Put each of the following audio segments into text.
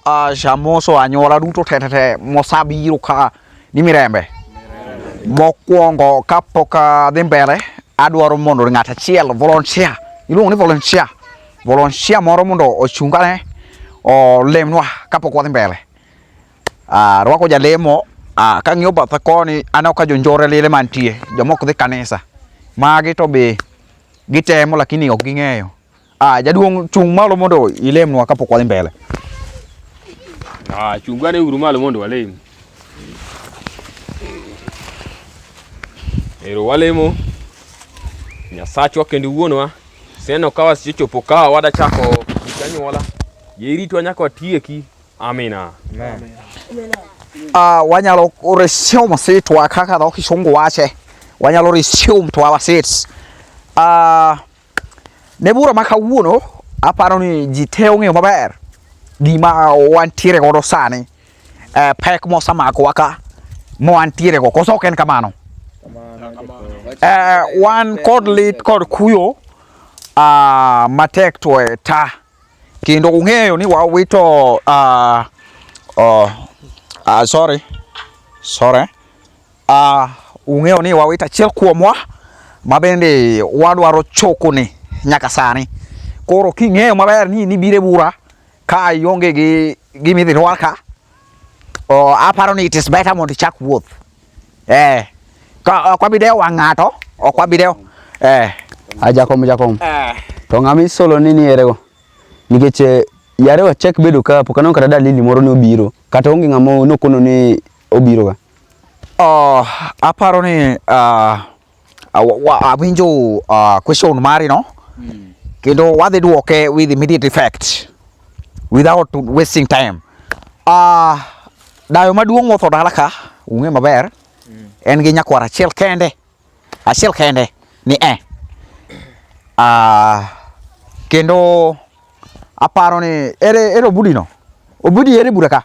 a jamoso anyuola duto tetete mosa biro ka ni mirembe mokwongo kapok adhi mbele adwaro mondo ng'at achiel volunteer iluongo ni volunteer volunteer moro mondo ochungane olemnwa kapok wadhi mbele uh, rwako jalemo uh, kang'iyo batha koni aneno ka jonjore lile mantie jomok dhi kanisa magi to be gitemo lakini ok ging'eyo Ah, jaduong' chung' malo mondo ilemnwa kapok wadhi mbele. Ah, chung' gane uru malo mondo walem. Ero walemo. Nyasachwa kendo wuonwa. Seno kawa sichopo kawa wada chako janyuola. Yeritwa nyaka watieki. Amina. Amen. Ah, wanyalo resio masitwa kaka dho kisungu wache. Wanyalo resio mtwa wasits. Ah, uh, Ne bura ma kawuono aparo ni ji te ong'eyo maber gima wantiere godo sani eh, pek mosamakowa ka mwantiere go koso ok en kamano eh, wan kod lit kod kuyo ah, matek to e ta Kendo ung'eyo ni wawito uh, uh, uh, sorry sorry uh, ung'eyo ni wawito achiel kuomwa ma bende wadwaro choko ni nyaka sani. Koro king'eyo maber ni nibire bura ka ionge gi gimidhi rwaka, uh, aparo ni it is better mondo ichak wuoth. Eh. Ka ok wabi dewo wang' ng'ato, ok wabi dewo. Eh. A jakom jakom. Eh. To ng'ama isolo ni ni erego. Nikech eh, yare wachak bedo ka pok aneno kata dalili moro ni obiro. Kata onge ng'ama nokono ni obiro ga. Oh, aparo ni ah, Awinjo uh, question mari no mm. Kendo wadhi duoke with immediate effect without wasting time. Uh, dayo maduong' motho dala ka ung'e maber mm. en gi nyakwar achiel kende achiel kende ni e eh. uh, kendo aparo ni ere, ere obudino obudi ere bura ka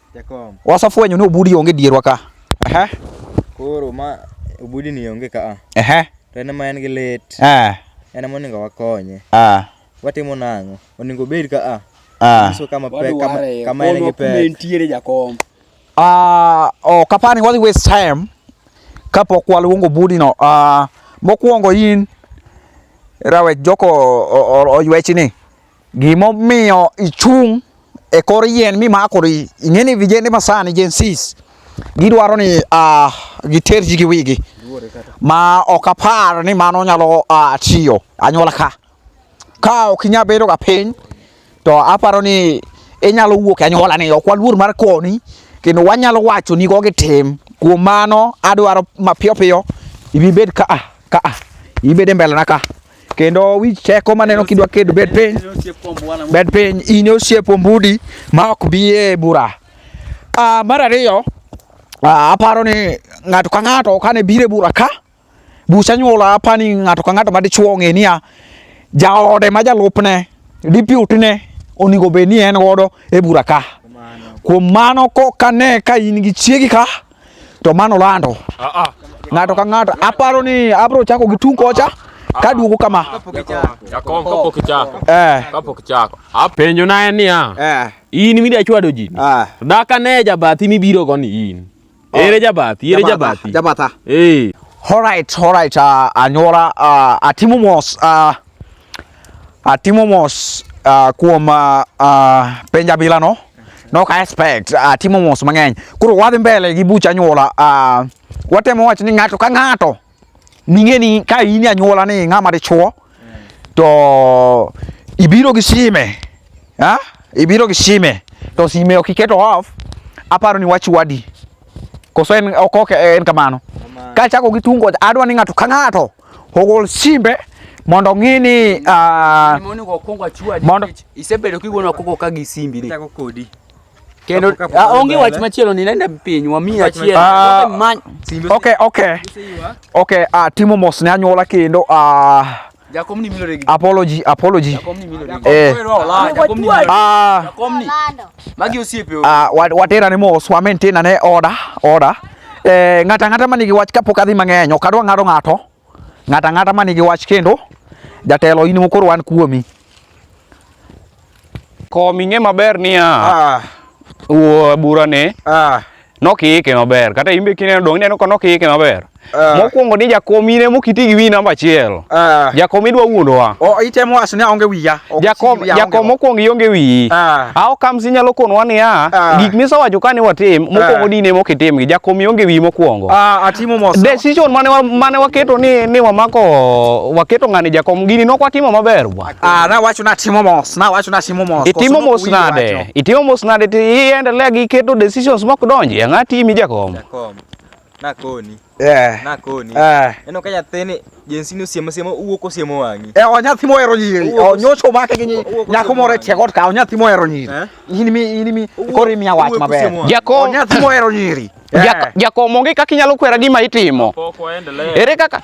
Jakom. Wasafwenyo ni obudi onge dierwa ka. Aha. Koro ma obudi ni onge ka. Aha. To en ma en gi lit. Ah. En ma oningo wakonye. Ah. Watimo nang'o? Oningo bed ka a. Ah. So kama pe kama kama en gi pe. Koro nitiere jakom. Ah, oh, kapani wadhi waste time kapok waluongo budi no. Ah, mokuongo in rawe joko oywechi ni. Gimomiyo ichung' e kor yien mimakori, ing'e ni vijende masani Gen Zs gidwaro ni ah, giter ji gi wigi ma ok apar ni mano nyalo ah, tiyo anyuola ka. Ka ok inyal bedo ga piny to aparo ni inyalo wuok e anyuola ni ok waluor mar koni kendo wanyalo wacho ni go gi tim. Kuom mano adwaro mapiyo piyo ibi bed ka a ka a ibi bed e mbele na ka. kendo wich teko maneno kidwa kedo bed piny bed piny in osiep ombudi ma ok bi e bura uh, mar ariyo uh, aparo ni ng'ato ka ng'ato kane bire bura ka buch anyuola apani ng'ato ka ng'ato madichuo ong'e niya jaode ma jalupne diputne onego bed ni en godo e bura ka kuom mano kokane ka in gi chiegi ka to mano lando ng'ato ka ng'ato aparo ni abro chako gi tung kocha kaduogo kama Jakom kapok ichako. eh Kapok ichako. Apenjo na en niya. eh In midwa chwado ji. ni. ah Daka ne jabathi mibiro go ni in. Ere jabathi, ere jabathi. jabatha Eh. Alright, alright, uh, anyora uh, atimo mos uh, Atimo mos uh, kuom uh, uh, penja bila no. No ka expect atimo uh, mos mang'eny. Koro wadhi mbele gi bucha anyuola. Uh, watemo wach ni ng'ato ka ng'ato ning'e ni ka in anyuola ni ng'ama dichuo to ibiro gi sime. Ha? Ibiro gi sime. To sime ok iketo off. Aparo ni wach wadi. Koso en ok en kamano. Ka chako gi tungo adwa ni ng'ato ka ng'ato ogol simbe mondo ng'i ni ah, mondo isebedo kigona koko ka gi simbi ni kodi kendo ah, onge wach machielo ni nenda piny wami achiel ah, okay okay okay ah, timo mos ne anyuola kendo ah, Jakom ni milore gi. Apology, apology. Jakom ni milore. Eh. Jakom ni. Ah. Jakom ni. Magi osiepe. Ah, watera ni mos wa maintain ane order, order. Eh, ng'ata ng'ata manigi wach kapok adhi mang'eny, ok adwa ng'ado ng'ato. Ng'ata ng'ata manigi wach kendo jatelo in mokoro wan kuomi. Komi ng'e maber niya. Ah. Wuo burane. Ah. Nokiike maber. Kata imbe kine dong neno ko nokiike maber. Ah. Mokwongo ni jakom ine mokiti gi wi namba achiel. Ah. Jakom idwa wuondowa. O itemo wacho ni aonge wiya. Jakom jakom mokwongo ionge wiyi. Ah. Awo kamsi nyalo konwa ni a ah. gik misewacho ka ni watim ah. mokwongo di ne mokitim gi jakom ionge wiyi mokwongo. Ah atimo mos. Decision mane mane waketo ni ni wamako waketo ngani jakom gini nok watimo maber bwa. Ah, na wacho na timo mos, na wacho na timo mos. Itimo mos nade? Itimo mos nade ti iendelea gi keto decisions mok donji e ng'ati imi jakom. Jakom. Na koni. Eh. Na koni. Eh. Eno ka nyathini jensi ni osiemo siemo uwuok osiemo wang'i. Eh, onyathi mohero nyiri. Onyocho make gi nyiri. Nyako moro e tie got ka onyathi mohero nyiri. Eh? In mi in mi koro imiya wach maber. Jakom. Onyathi mohero nyiri. Eh. Jakom onge kaka inyalo kwera gima itimo. Ere kaka?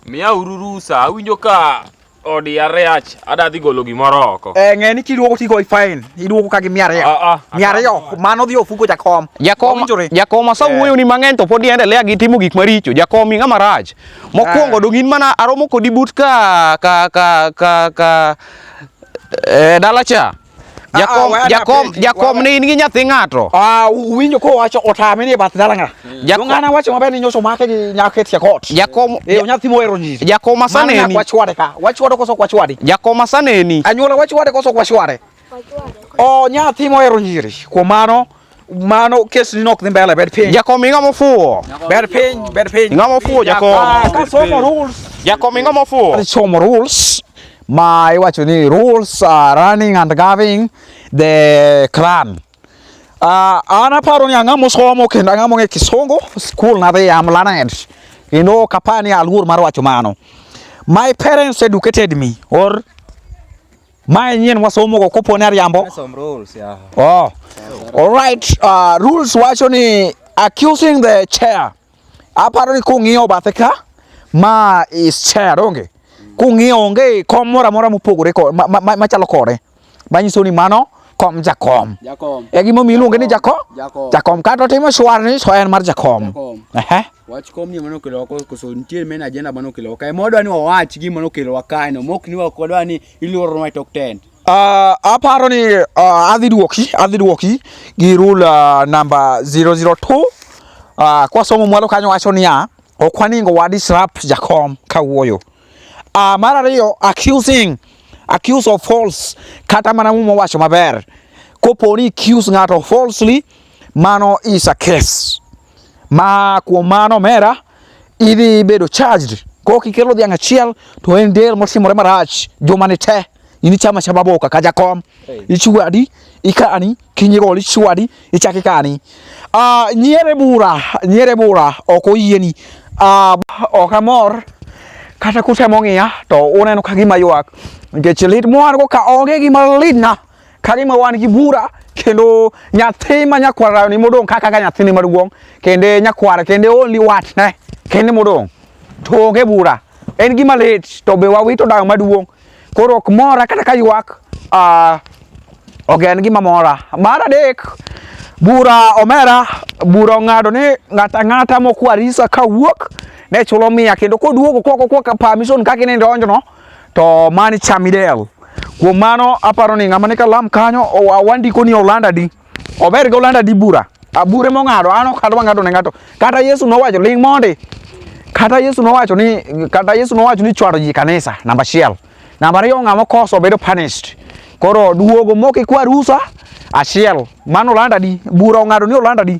Miya uru rusa, awinjo ka odi ariach ada dhi golo gimoro oko eh ng'e ni kiduogo ti goyi fine iduogo ka gi mia ariyo ah, ah, mia ariyo mano dhi ofuko jakom jakom jakom asa eh. wuoyo ni mang'eny to pod iendelea gi timo gik maricho jakom ing'a marach mokwongo eh. dong in mana aromo kodi but ka ka ka ka, ka eh, dala cha Jakom, ah, ah, jakom, jakom ni in gi nyathi ng'ato. Ah, uwinjo ko wacho otame ni e bath dala nga. Jakom ngana wacho maber ni nyoso make gi nyake tia kot. Jakom, e nyathi mohero nyiri. Jakom asane ni. Wacho wade ka. Wacho wade koso wacho wade. Jakom asane ni. Anyola wacho wade koso wacho wade. Oh, nyathi mohero nyiri. Kuom mano mano kesni nok dhi mbele bed piny jakom ing'o mofuwo bed piny bed piny ing'o mofuwo jakom ah, ka somo rules jakom ing'o mofuwo somo rules ma iwacho ni rules are running and governing the clan uh, an aparo ni ang'ama osomo kendo ang'ama ong'e kisungu skul nadhi am learned kendo ok apar ni aluor mar wacho mano my parents educated me or Mae nyien wasomo go kopo ne ariambo. Some rules, yeah. Oh. All right, uh, rules wacho ni accusing the chair. Aparo ni kung'iyo bathe ka ma is chair onge. Kung'iyo onge kom mora mora mopogore ko ma- ma- ma- machalo kore. Manyiso ni mano kom jakom. Jakom. E gimomiyo iluonge ni jakom? Jakom. Jakom kata otimo shwar ni so en mar jakom. Jakom. Ehe. Wach kom ni mano kelo ko koso nitie men agenda mano kelo kae. Modwa ni wawach gi mano kelo wakae no. Mok ni wakodwa ni iluoro nwa tok tent. Uh, aparo ni uh, adhi duoki adhi duoki gi rule uh, namba 002 uh, kwasomo mwalo kanyo wacho niya ok waningo wa disrupt jakom kawuoyo uh, mar ariyo accusing accuse of false kata mana mumo wacho maber koponi accuse ng'ato falsely mano is a case ma kuom mano omera idhi bedo charged kok ikelo dhiang' achiel to en del motimore marach juma ni te in ichama chama boka ka jakom ichwadi ikani kinyi gol ichwadi ichaki kani ah nyiere bura nyiere bura ok oyieni ah ok amor kata kutemo ng'iya to uneno ka gima ywak nikech lit mwan go ka onge gima litna Kani ma wan gi bura kendo nyathi ma nyakwara ni modong kaka ka nyathini maduong kende nyakwara kende only watch ne kende modong to onge bura en gima lit to be wawito dayo maduong koro ok mora kata ka ywak uh, ok en gima mora mar adek bura omera bura ong'ado ni ng'ata ng'ata mokwariso ka wuok ne chulo mia kendo koduogo koko koka permission kaka inendoonjono to mani Chamidel. Kuom mano aparo ni ng'ama ni kalam kanyo wandiko ni Olanda di. Ober gi Olanda di bura. Abure mong'ado an ok adwa ng'ado ne ng'ato. Kata Yesu nowacho ling mondi. Kata Yesu nowacho ni kata Yesu nowacho ni chwado ji kanisa namba achiel. Namba ariyo ng'ama okoso bedo punished. Koro duogo mok ikwa rusa achiel. Mano Olanda di. Bura ong'ado ni Olanda di.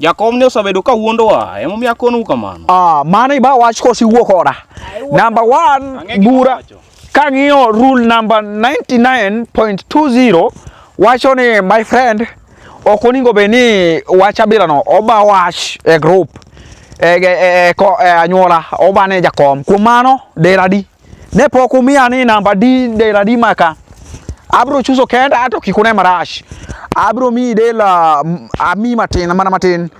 Jakom ne osabedo ka wuondowa, emomiyo akonu kamano. Ah, mano iba wach kose iwuo koda. Number one, bura kang'iyo rule number 99.20 wacho ni my friend ok oningo be ni wach abilano oba wach e group e, e, e, e, e anyuola obane jakom kuom mano deradi Ne pok umiya ni namba di dela di maka. Abro chuso kenda ato kik une marash. Abro mi dela mm, ami matin mana matin.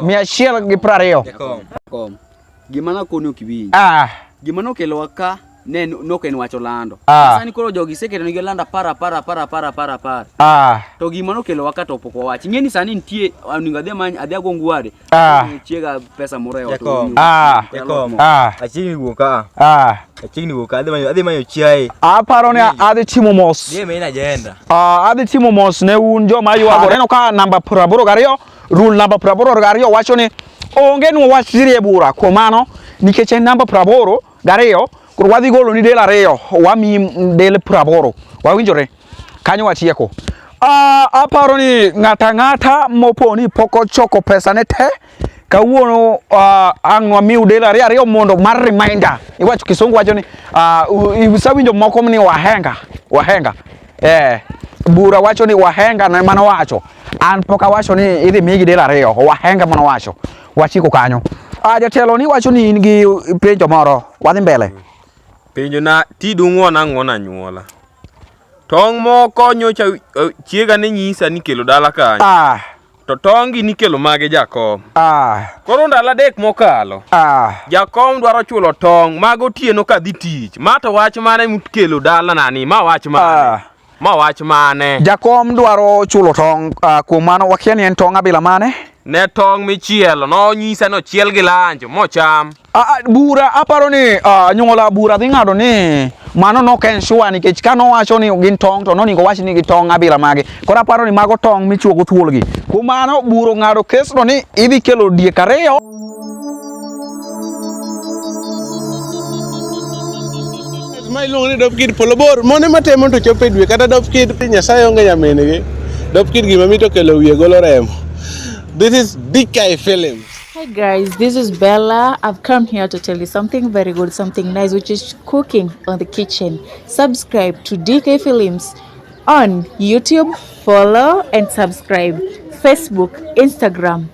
Mia achiel gi piero ariyo. Jakom, jakom. Gima nakoni ok iwinj. Ah, Gima nokelowa ka ne en- nok en wacho lando. Ah. Sani koro jogi iseketo nigi lando apar apar apar apar apar apar. ah. To gima nokelowa ka to pok wawach. Ing'e ni sani nitie onego adhi amany adhi ago ngware Ah. Chiega pesa moro e ot. Jakom. Ah. Jakom. Ah. Achiegni wuok ka. Ah. Achiegni wuok ka. Adhi manyo adhi manyo chiaye. Aparo ni adhi timo mos. Dhi main agenda. Ah, adhi timo mos ne un joma ywago. Neno ka namba 82 rule namba 82 wacho ni onge nwa wach sirie bura kuom mano nikech en namba 82 koro wadhi golo ni del ariyo wamiyi del 82 wawinjore Kanyo watieko. Uh, aparo ni ng'ata ang'ata mopo ni pok ochoko pesa ne te kawuono uh, ang' wamiu del ariyo ariyo mondo mar reminder iwacho kisungu wacho ni uh, usawinjo moko ni wahenga wahenga eh, bura wacho ni wahenga na mano wacho an pok awacho ni idhi migi del ariyo wahenga mano wacho wachiko kanyo uh, jatelo ni wacho ni in gi penjo moro wadhi mbele mm. Penjo na ti dung'uon ang'uon anyuola. Tong' moko nyocha eh, chiega ne nyisa ni kelo dala kanyo. Ah, To tongi nikelo mage jakom. ah, Koro ndalo adek mokalo. ah. Jakom dwaro chulo tong' mag otieno kadhi tich. Ma to wach mane mukelo dalanani? Ma wach mane? Ah. Ma wach mane? Jakom dwaro chulo tong' uh, kuom mano wakia ni en tong' abila mane? Ne tong' michielo nonyisa ni ochiel gi lanjo mocham. Uh, bura aparo ni uh, nyuola bura dhi ng'ado ni mano nok en sure nikech ka nowacho ni gin tong' to noningo wach ni gi tong' abila mage. Koro aparo ni mago tong' michuogo thuolgi. Kuom mano bura ong'ado kesno ni idhi kelo diek ariyo. ma iluongo ni dop kid polo bor mone matemo to chopo e dwe kata dop kid nyasaye onge nyamingi dop kid gima mito kelo wiye golo remo this is DK Films Hi guys, this is Bella. I've come here to tell you something very good, something nice, which is cooking on the kitchen. Subscribe to DK Films on YouTube, follow and subscribe, Facebook, Instagram,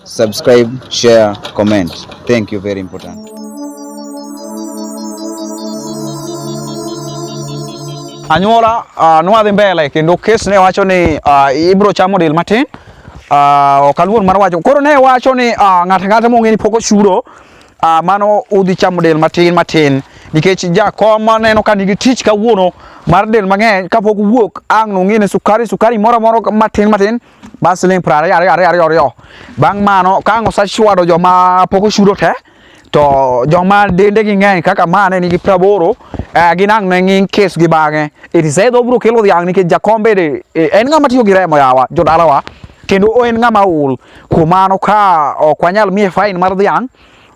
Subscribe, share, comment. Thank you, very important. Anyuola uh, nwadhi mbele kendo kes ne wacho ni uh, ibro chamo del matin uh, ok aluor mar wacho koro ne wacho ni uh, ng'ato ang'ata mong'e ni pok ochuro uh, mano udhi chamo del matin matin nikech jakom neno ka nigi tich kawuono mar del mang'eny kapok wuok ang' nong'e ni sukari sukari moro moro matin matin ba siling pra ya ya ya ya bang mano ka ngo sa chwado joma poko shudo te to joma dende gi ng'eny kaka mane nigi praboro eh, ginang' ne ng'ing kes gi bang'e itisedho obro kelo dhiang' nikech jakom bende eh, en ng'ama tiyo gi remo yawa jodalawa kendo en ng'ama ul kuom mano ka ok wanyal miye fain mar dhiang'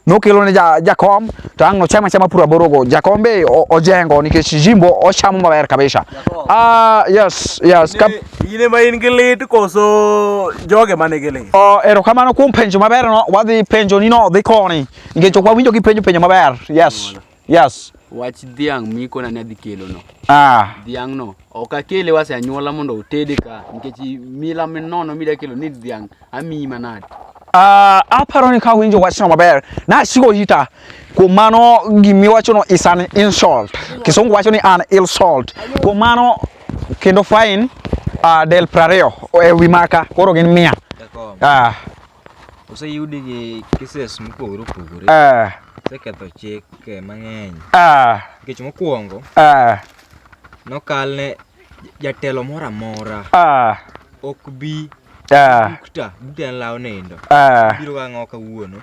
nokelo ne ja, jakom to ang' ochama chama pura borogo jakom be ojengo nikech jimbo ochamo maber kabisa ah uh, yes yes kap ine ma in gi lit koso joge mane gi lit oh erokamano kuom penjo maber no wadhi penjo ni no dhi koni nikech ok wawinjo gi penjo penjo maber yes mm -hmm. Yes. Wach dhiang' miko na adhi kelo no. Ah. Dhiang' no. Ok akele wase anyuola mondo otede ka nikech mila minono mida kelo ni dhiang' amiyi manade. Uh, aparo ni ka winjo wachno maber nasiko hita kuom mano gimiwachono is an insult kisungu wacho ni an insult kuom mano kendo fine uh, del prariyo e wi maka koro gin mia uh, Oseyudi gi cases mopogore opogore. Ah. Oseketho chik eh, mang'eny. Ah. Nikech mokwongo. Ah. Nokalne jatelo moro amora. Ah. Ok bi. Ah. Bukta. Bukta en law nindo. Ah. Biro ga ng'o kawuono.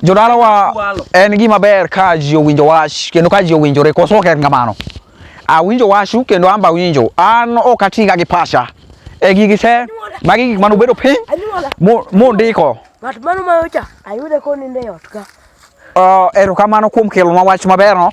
Jodalawa en gima ber ka ji owinjo wach kendo ka ji owinjore koso ok en kamano. Awinjo wachu kendo an bawinjo. An ok atiga gi pacha. E gigi te magi gik mane ubedo piny mundiko. Ng'at mano mayocha ayude konindo e ot ka. Uh, erokamano kuom kelonwa wach maberno.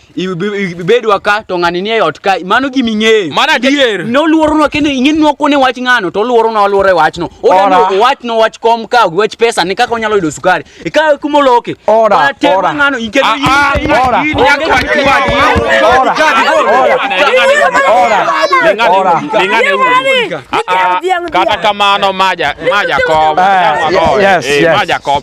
ibedwa ka to ng'ani nie ot ka mano gima ing'eyo mano adier ne oluoronwa kendo ing'eni nwakone wach ng'ano to oluoronwa oluoro e wachno odani owachno wach kom ka wach pesa ni kaka onyalo yudo sukari ikawe kuma oloke atema ng'ano ikendo ah, ah, ah, kata kamano maja maja kom eh, eh, maja kom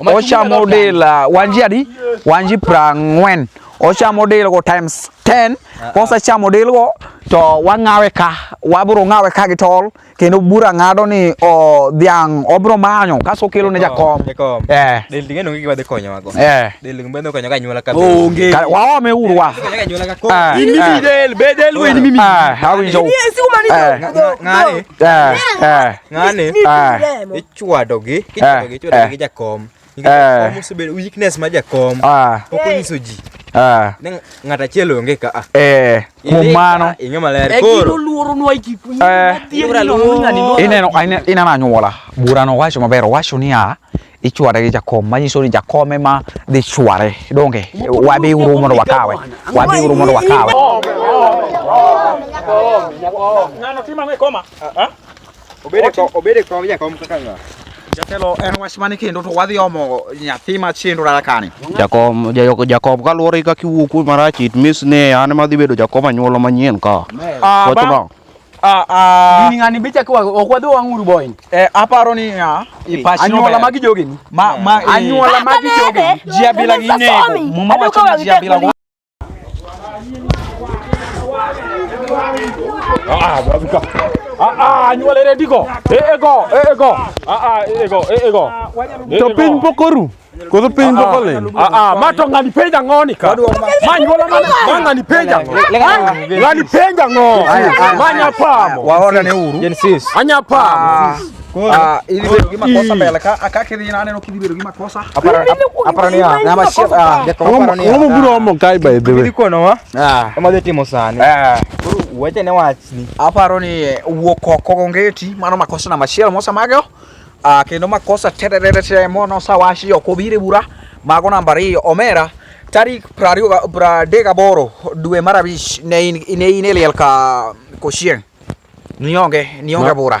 ochamo del ah, wanji adi wanji prang'wen ochamo del go times 10 ah, kosechamo del go to wang'awe ka wabro ng'awe ka gi tol kendo bura ng'ado ni o dhiang' obro manyo kaso kelo ne jakom eh del ng'eno gi wadhi konyo wago eh del ng'eno konyo ka nyuola ka onge wa me uru wa in mi del be del we ni mi ah how is you ng'ani ng'ani chwadogi Eh, kichwadogi chwadogi eh. gi jakom Eh. nikech jakom osebedo weakness ma jakom Ah, pok onyiso ji ah, ne ng'ato achiel onge ka ah. eh, kuom Ilika, mano ing'e maler E gino koro luoro nwa iki. Eh. Ibra luoro. ineno ine- ineno anyuola burano wacho maber owacho niya ichware gi jakom manyiso ni jakom ema dhi chware donge wabiuru mondo wakawe wabiuru mondo wakawe Ng'ano timo ang'o e koma? Ah? Obede Otim- kom, obede kom jakom kaka ng'a? Jatelo en wach mane kendo to wadhi omo nyathi machendo dala kani. Jakom, ja- jakom kaluwore kaka iwuo kuom marach it means ni an ema adhi bedo jakom anyuola manyien ka. Ah, Wach bang- bang'. Ah, ah, Gini ng'ani bicha kwa ok wadhi wang'uru boy. eh, aparo ni ah, ipachi Anyuola nober. magi jogeni. ma ma eh, Anyuola magi jogeni. Jia bila gi nego. Muma wacho ni jia bila Ah, babi ka. Ah, ah, nyua lere diko. Eh, ego, eh, ego. Ah, ah, eh, ego, eh, ego. To piny pokoru. Koso piny poko leny. Ah, ah, ma to ngani penja ngoni ka. Ma nyuola ma ma ngani penja. Ngani penja ngo. Ma nya pamo. Waona ne uru. Anya pamo. Ah, ili ndio kima kosa mbele ka akake ni nane no kidibero kima kosa. Apara apara ni ah, na mashia ah, de kwa apara ni. Umu buru omo kai by the way. Ndiko no wa. Ah. Kama de timo sani. Ah. Buru wacha ne wachni. Aparo ni eh, wuoko kogongeti mano makosa na mashia mosa mageo. Ah, kendo makosa tererere che mono sawashi okobire bura. Mago namba 2 Omera tarik prario pra dega boro dwe marabish ne in ne in eliel ka koshien. Nionge nionge bura.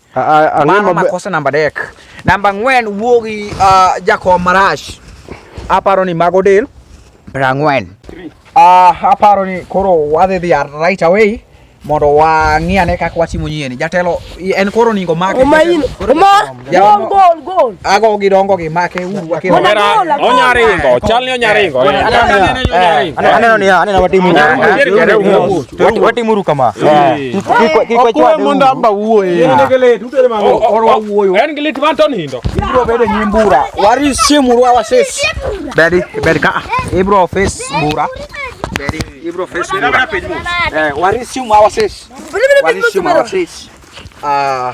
Mano makosa namba adek. Namba ang'wen wuo gi uh, jakom marash. Aparo ni mago del prang'wen. Uh, aparo ni koro wadhi dhi right away mondo wang'i ane kaka watimo nyieni. Jatelo en koro ningo make. Omain. Oma. Gol gol gol. Ago gidongo gi make uru akiro. Onya ringo. Chal ni onya ringo. Aneno ni aneno watimo. wati muru kama okuwe mondo amba wuoye en gi lit man to nindo ibro bedo nyi mbura wari siemuru awa sis bedi bedi ka ibro fis mbura bedi ibro fis mbura eh, wari siemu awa sis wari siemu awa sis ah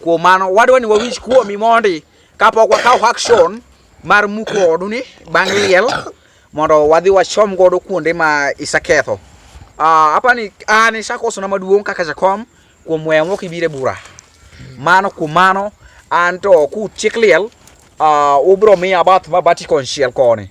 Kuom mano wadwa ni wawinj kuomi mondi kapok wakawo action mar muko odu ni bang' liel mondo wadhi wachom godo kuonde ma iseketho. Ah, apa ni an isakosona maduong' kaka jakom kuom weyo mok ibire bura. Mano kuom mano an to kutiek liel ah, ubro miya bath mabati konchiel koni.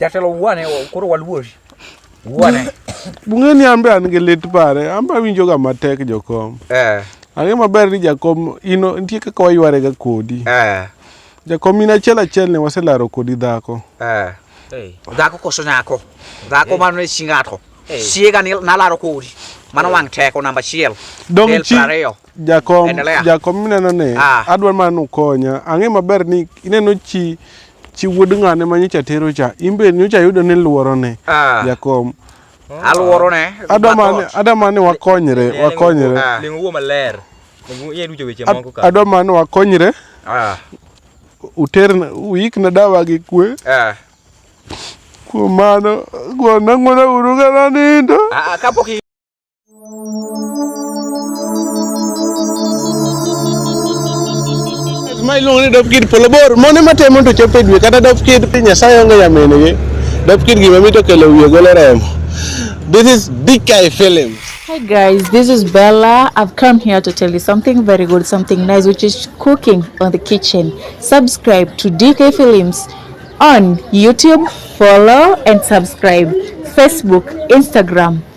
Jatelo wuane koro waluori. Wuane. Bung'e ni ambe an gi lit pare, ambe awinjo ga matek jokom. Eh. Ang'e maber ni jakom ino nitie kaka wayware ga kodi. Eh. Jakom in achiel achiel ne waselaro kodi dhako. Eh. Hey. Dhako koso nyako. Dhako hey. mano ne chi ng'ato. Hey. Siega ni nalaro kodi. Mano wang' teko namba achiel. Dong' chi. Jakom, Endelea. jakom mineno ni Ah. adwa mana ni ukonya. Ang'e maber ni ineno chi chi wuod ng'ane ma nyocha tero cha. In be nyocha yudo ni luoro ne. Ah. Jakom. Aluoro ne. Adwa mana ni- mathoth. adwa mana ni wakonyre, wakonyre. Ah. Ling wuo maler. Ling iye duto weche Ad- moko ka. Adwa mana ni wakonyre. Ah. Uter uik na dawa gi kwe. Ah. Kuom mano, gwanda ng'wona uru kana nindo. Ah, ah, kapok i- ma iluongo ni dop kid polo bor mone matemo to chopo e dwe kata dop kid nyasaye onge nyaminigi dop kid gima mito kelo wiye golo remo this is big guy film Hi guys, this is Bella. I've come here to tell you something very good, something nice, which is cooking on the kitchen. Subscribe to DK Films on YouTube, follow and subscribe, Facebook, Instagram,